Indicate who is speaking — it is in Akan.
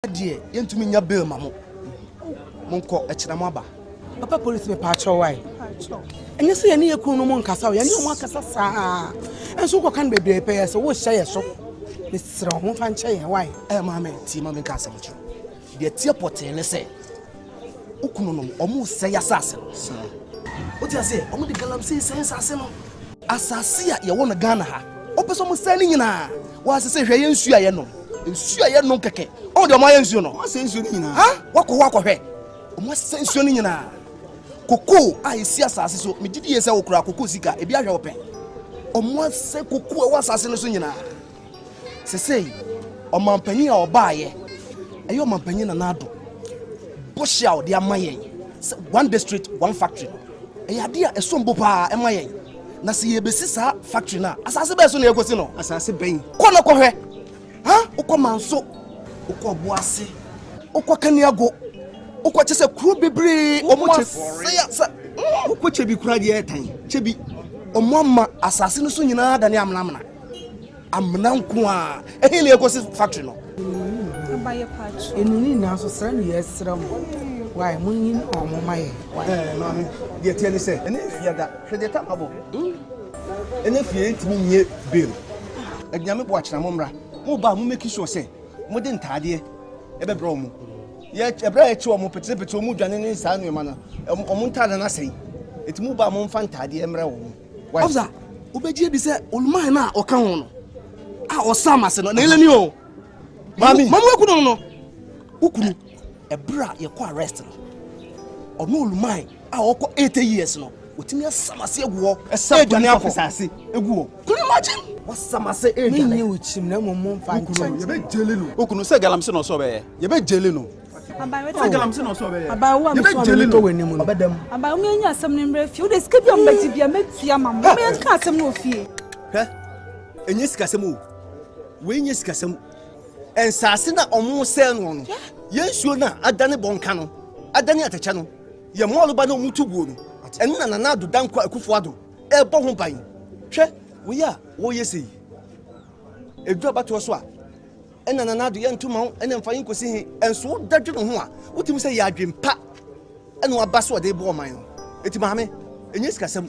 Speaker 1: deɛ yɛntumi nya bail ma mo monkɔ ɛkyena mo aba papa polisi mepaakyɛw wae ɛnyɛ sɛ yɛne yɛkunu no mu nkasa o yɛne ɔmo akasa saa ɛnso wokɔka no bebree pɛyɛ sɛ wohyɛ yɛ so meserɛ wo momfa nkyɛ yɛn wae ɛyɛ maame tie ma menka asɛm kyerɛ deɛ teɛ pɔtee ne sɛ Wo kununom, wɔresɛe asase no. Wote aseɛ? Wɔde galamsey sɛe asase no. Asase a yɛwɔ no Ghana ha, wɔpɛ sɛ wɔsɛe ne nyinaa. Wɔase sɛ hwɛ yɛ nsuo a yɛnom. Nsuo a yɛnom kɛkɛ. Wɔn deɛ wɔayɛ nsuo no. Wɔasɛe nsuo no nyinaa. Ha? Wɔakɔ hɔ akɔhwɛ. Wɔasɛe nsuo no nyinaa. Kokoo a ɛsi asase so, megye di yie sɛ wokura kokoo sika, ebi ahwɛ wo pɛn. Wɔasɛe kokoo a ɛwɔ asase no so nyinaa. Sesei, ɔmampanyin a ɔbaeɛ, ɛyɛ ɔmampanyin Nana Addo bɔhyɛ a ɔde ama yɛn sɛ one district one factory no, ɛyɛ adeɛ a ɛsom bo paa ɛma yɛn. Na sɛ yɛbɛsi saa factory no a, asase bɛn so na yɛkɔsi no? Asase bɛn? Kɔ na kɔhwɛ. Ha, wokɔ Manso, wokɔ Ɔboase, wokɔ Kaniago, wokɔ kyɛ sɛ kuro bebree ɔmo asɛe asa. Wokɔ Kyebi koraa deɛ ɛtan. Kyebi, ɔmo ama asase no so nyinaa adane amenamena. amena nko a ɛhe na yɛkɔsi factory no ɛnu ne nyinaa so srɛ no yɛsrɛ mo wae monyi ɔmo ma yɛ maame deɛ teɛ ne sɛ ɛne fie da hwɛ deɛ tam abɔ ɛne fie ntumi nyɛ bail adunyame bo akyena mo mmra mo ba mo meki sure sɛ mode ntaadeɛ ɛbɛbrɛ ɔmo ɛberɛ a yɛkyi ɔmo peterepete ɔmo dwane ne saa nneɛma no ɔmo ntaade no asɛe ɛti mo ba mo mfa ntaadeɛ mmrɛ wɔ mo Ɔfsa, wobɛgye adi sɛ Olman no a ɔka ho no a ɔsa ma se no, na ɛlɛ ni o. Mami. Mamu aku no no. Wokunu, ɛberɛ a yɛkɔ arrest no, ɔno Olman a ɔkɔ 80 years no, wɔtumi asam ase agu hɔ ɛdwane akɔ sase egu hɔ can you imagine wasam ase ɛdwane menyɛ ɔkyim na mmom momfa nkyɛn yɛbɛ gyele no wokunu sɛ galamsey na ɔsɛ ɔbɛyɛ yɛbɛ gyele no abayewa mi sɔn mi to w'anim no abayewa mi anya asɛm no mmerɛ fie wode sika bi a mobɛgye bia mɛtua ma mo mɛka asɛm no wɔ fie hwɛ ɛnyɛ sikasɛm o wei nyɛ sikasɛm nsaase na ɔmo sɛɛ no no yɛn nsuo no a adane bɔnka no adane atɛkyɛ no yɛn mɔɔloba na ɔmo tu buo no ɛno na nana ado dankwa akufo ado ɛbɔ ho ban hwɛ wei a wɔyɛ sei ɛduru abatoɔ so a Nna na n'ado yɛ nto ma wo, nna mfa yi nkosi he? Nso wo da dwene ho a, wogye mu sɛ yɛ adwen pa na waba so ɔde rebɔ ɔman no. Enti Maame, nyɛ sikasɛm.